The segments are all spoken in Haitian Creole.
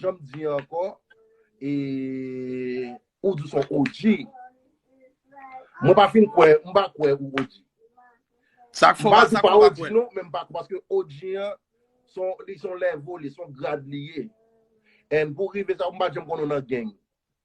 Janm di anko e ou di son OG. Mwen pa fin kwe, mwen pa kwe ou OG. Sak fo pa sak pa kwe. Non, men pa kwe paske OG an son li son level, li son grad li ye. En pou rive sa mwen pa janm konnen nan gang.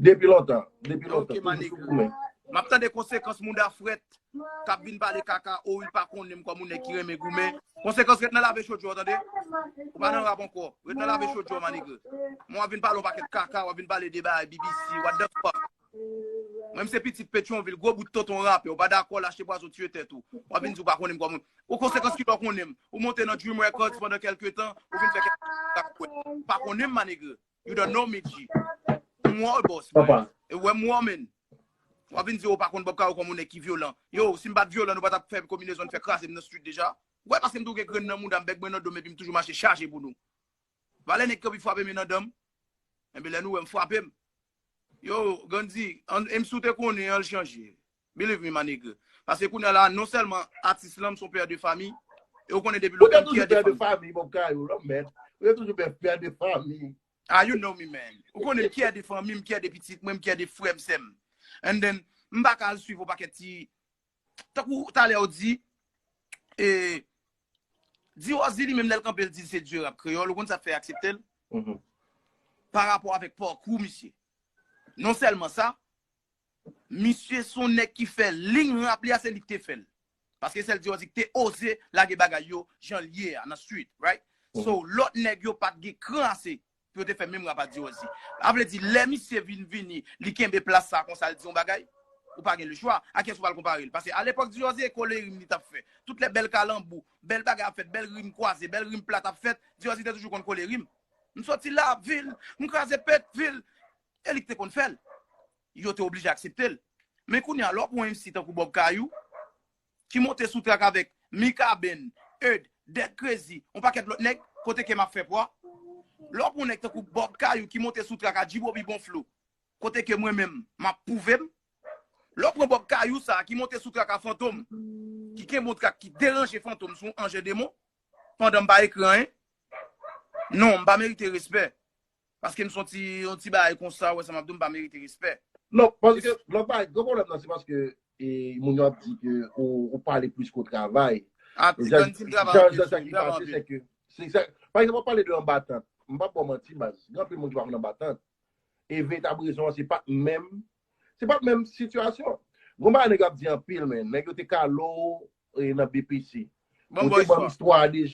Depi lontan, depi lontan, toujou sou koumen. Map tande konsekans mouda frèt kap vin pale kaka o wi pa konnenm kòm yon nèg ki renmen goumen konsekans ret nan lave chodyo w tande ou pa nan rap ankò ret nan lave chodyo w ma nigga mwen wap vin pale yon pakèt kaka wap vin pale de bagay BBC what the fuck mwen m se pitit petyonvil gwo bout tonton rapè ou pa dakò lache pwazon tiye tèt ou wap vin di ou pa konnenm kòm ou konsekans kilè w konnenm ou monte nan dream records pandan kelke tan ou vin fè kèk pa konnenm ma nigga You don't know me G. M wè w boss mwen. E wè m wè w menn. Wap vin di ou pa konn Bob Caro kòm on nèg ki vyolan. Yo, si m pat vyolan nou pa tap fè konbinezon fè kraze m nan street deja. Wè paske m toujou gen grenn nan mouda m, bèk mwen nan do m epi m toujou mache chaje pou nou. Valè nèg ki anvi frape m yo nan dan m. Enben lè nou wè m frape m. Yo, Gandhi, an, e m si w te konnen an l chanje. Believe me ma nigga. Paske kounya la non sèlman atis lan m son père de famille e ou konnen depi lontan m fier de fanm. Ou te toujou père de famille bon bgay ou lanmèd. Ou te toujou père de famille. Ah you know me man. Ou konnen m fier de fanmi, m fier de pitit mwen, m fier de frè m, sè m. And then m pa ka al swiv on pakèt ti tankou talè ou di e Diròzi li menm lè l kanpe l di l se dieu rap kreyòl ou konn sa k fè aksepte l? Par rapport avèk parcours misye. Non sèlman sa. Misye son nèg ki fè lign rap li a se li ki te fèl paske sèl diò di ki te oze lage bagay yo janl ye a nan street right so lòt nèg yo pat gen kran ase pou yo te fè menm rap a diò di a vle di lè misye vin vini li kenbe plas sa konsa li di yon bagay ou pa gen le chwa a kiyès ou pral konparel pase alepòk diò di e kole rim li tap fè tout lè bèl kalanbou bèl bagay ap fèt bèl rim kwaze bèl rim plat ap fèt diò di te toujou konn kole rim m soti la vil m kraze pèt vil E li k te konn fè l. Yo te oblije aksepte l. Men kounye a, lè w pran yon MC tankou Bob Kayou, ki monte sou trak avèk Mikaben, Eud, Dèk Krezi, yon pakèt lòt nèg, kote kè m ap fè pwa? Lè w pran yon nèg tankou Bob Kayou ki monte sou trak ak G-Bobby Bon Flo, kote ke mwen menm, m ap pwouve m? Lè w pran Bob Kayou sa a ki monte sou trak a Fantom, ki kenbe yon trak ki deranje Fantom sou yon anje demon, pandan m pa ekri anyen? Non, m pa merite respè. Paske m son ti yon ti bagay konsa ou wè sa map di w m pa merite respè. Non, paske lòt bagay gran pwoblèm nan se paske e moun yo ap di ke ou pale plis ke w travay. Ah ti Can di m travay anpil jan sa ki pase se ke se sa pa egzanp wap pale de anba tant m pap ba w manti baz gen anpil moun ki pa konn anba tant e veritab rezon an se pa menm se pa menm sitiyasyon gon bagay nèg yo ap di anpil men nèg yo te kale w nan BPC ou te ban m istwa a deja.